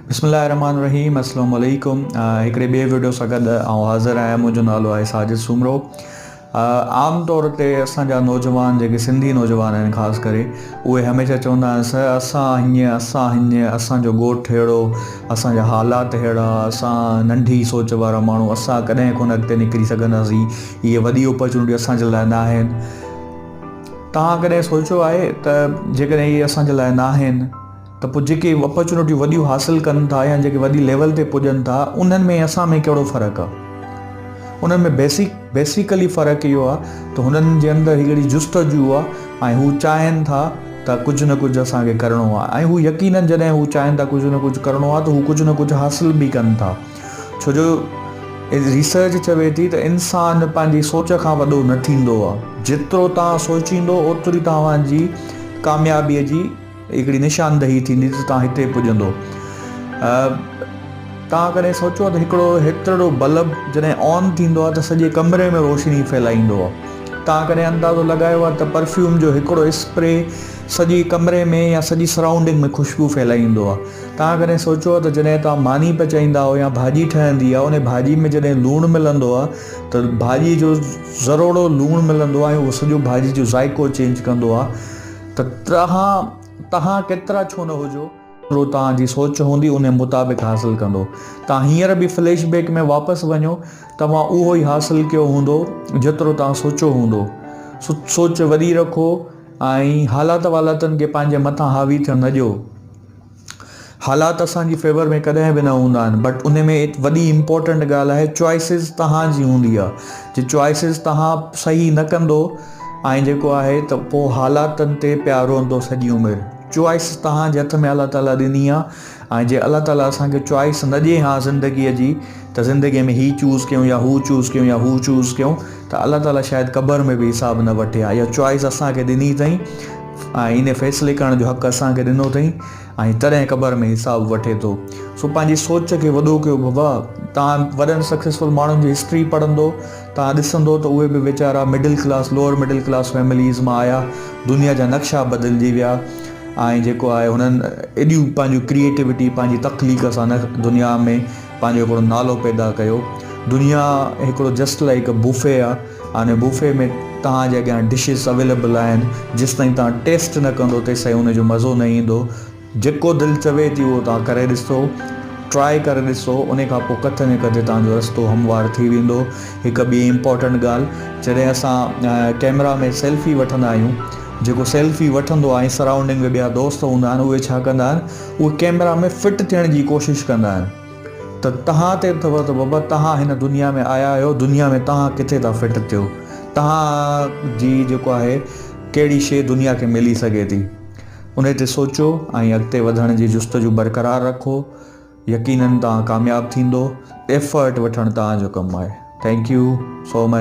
بسم الله الرحمن الرحيم اسلام عليڪم هڪڙي ٻي ويڊيو سان گڏ آئون حاضر آهيان منهنجو نالو آهي ساجد سومرو عام طور تي اسان جا نوجوان جيڪي سنڌي نوجوان آهن خاص ڪري اهي هميشه چوندا آهن سر اسان هيئن اسان هيئن اسان جو ڳوٺ ههڙو اسان جا حالات ههڙا اسان ننڍي سوچ وارا ماڻهو اسان ڪڏهن ڪونه اڳتي نڪري سگهنداسين اهي وڏي اپرچونٽي اسان جي لاء نه آهن توهان ڪڏهن سوچيو آهي ته جيڪڏهن اهي اسان جي لاء نه آهن ته پوء جيڪي اپرچونٽيون وڏيون حاصل ڪن ٿا يا جيڪي وڏي ليول تي پڄن ٿا انهن ۾ اسان ۾ ڪهڙو فرق آ انهن ۾ بيسڪ بيسيڪلي فرق اهو آ ته هنن جي اندر هڪڙي جستجو آ ۽ هو چاهين ٿا ته ڪجهه نه ڪجهه اسان کي ڪرڻو آ ۽ هو يقينن جڏهن هو چاهين ٿا ڪجهه نه ڪجهه ڪرڻو آ ته هو ڪجهه نه ڪجهه حاصل به ڪن ٿا ڇو جو ريسرچ چوي ٿي ته انسان پنهنجي سوچ کان وڏو نه ٿيندو آ جيترو توهان سوچيندو اوتري توهان جي ڪاميابي جي هڪڙي نشاندهي ٿيندي ته توهان هتي پڄندو. توهان ڪڏهن سوچيو ته هڪڙو هيترڙو بلب جڏهن آن ٿيندو آهي ته سڄي ڪمري ۾ روشني ڦهلائيندو آهي. توهان ڪڏهن اندازو لڳايو آهي ته پرفيوم جو هڪڙو اسپري سڄي ڪمري ۾ يا سڄي سرائونڊنگ ۾ خوشبو ڦهلائيندو آهي. توهان ڪڏهن سوچيو آهي ته جڏهن توهان ماني پچائيندا آهيو يا ڀاڄي ٺهندي آهي انهي ڀاڄي ۾ جڏهن لوڻ ملندو آهي ته ڀاڄي جو ذروڙو لوڻ ملندو آهي ۽ اهو سڄو ڀاڄي جو ذائقو چينج ڪندو آهي. ته ترهان تهان ڪيترا ڇو نه هجو، ڪيترو توهان جي سوچ هوندي انهي مطابق حاصل ڪندو. توهان هينئر به فليش بيڪ ۾ واپس وڃو، توهان اهو ئي حاصل ڪيو هوندو جيترو توهان سوچو هوندو. سوچ وڏي رکو ۽ حالات والاتن کي پنهنجي مٿان حاوي ٿيڻ نه ڏيو. حالات اسان جي فيور ۾ ڪڏهن به نه هوندا آهن بٽ ان ۾ هڪ وڏي امپورٽنٽ ڳالهه آهي چوائسز توهان جي هوندي آهي جي چوائسز توهان صحيح نه ڪندو ۽ جيڪو آهي ته پوء حالاتن تي پيا روئندو سڄي عمر چوائس توهان جي هٿ ۾ الله تعاليٰ ڏني آهي ۽ جي الله تعاليٰ اسان کي چوائس نه ڏي هان زندگيء جي ته زندگيء ۾ هي چوز ڪيون يا هو چوز ڪيون يا هو چوز ڪيون ته الله تعاليٰ شايد قبر ۾ به حساب نه وٺي ها اها چوائس اسان کي ڏني اٿئي ۽ ان فيصلي ڪرڻ جو حق اسان کي ڏنو اٿئي ۽ تڏهن قبر ۾ حساب وٺي ٿو سو پنهنجي سوچ کي وڏو ڪيو بابا تان وڏن سڪسيسفل ماڻهن جي هسٽري پڙهندو تان ڏسندو ته اهي به ويچارا middle class lower middle class families مان آيا دنيا جا نقشا بدلجي ويا ۽ جيڪو آهي هنن ايڏيون پنهنجون ڪريئيٽوٽي پنهنجي تخليق سان دنيا ۾ پنهنجو هڪڙو نالو پيدا ڪيو دنيا هڪڙو جسٽ لائيڪ بوفي آ آن بوفي ۾ توهان جي اڳيان ڊشز اويليبل آهن جيستائين توهان ٽيسٽ نه ڪندو تيستائين ان جو مزو نه ايندو جيڪو دل چوي ٿي اهو توهان ڪري ڏسو ٽرائي ڪري ڏسو ان کان پوء ڪٿي نه ڪٿي توهان جو رستو هموار ٿي ويندو هڪ ٻي امپورٽنٽ ڳالهه جڏهن اسان ڪيمرا ۾ سيلفي وٺندا آهيون جيڪو سيلفي وٺندو آهي سرائونڊنگ ۾ ٻيا دوست هوندا آهن اهي ڇا ڪندا آهن اهي ڪيمرا ۾ فٽ ٿيڻ جي ڪوشش ڪندا آهن ته تهان تي اٿو ته بابا تهان هن دنيا ۾ آيا آهيو دنيا ۾ تهان ڪٿي ٿا فٽ ٿيو تهان جي جيڪو آهي ڪهڙي شي دنيا کي ملي سگهي ٿي انهي تي سوچو ۽ اڳتي وڌڻ جي جستجو برقرار رکو يقينن تهان ڪامياب ٿيندو ايفرٽ وٺڻ تهان جو ڪم آهي ٿينڪ يو سو مچ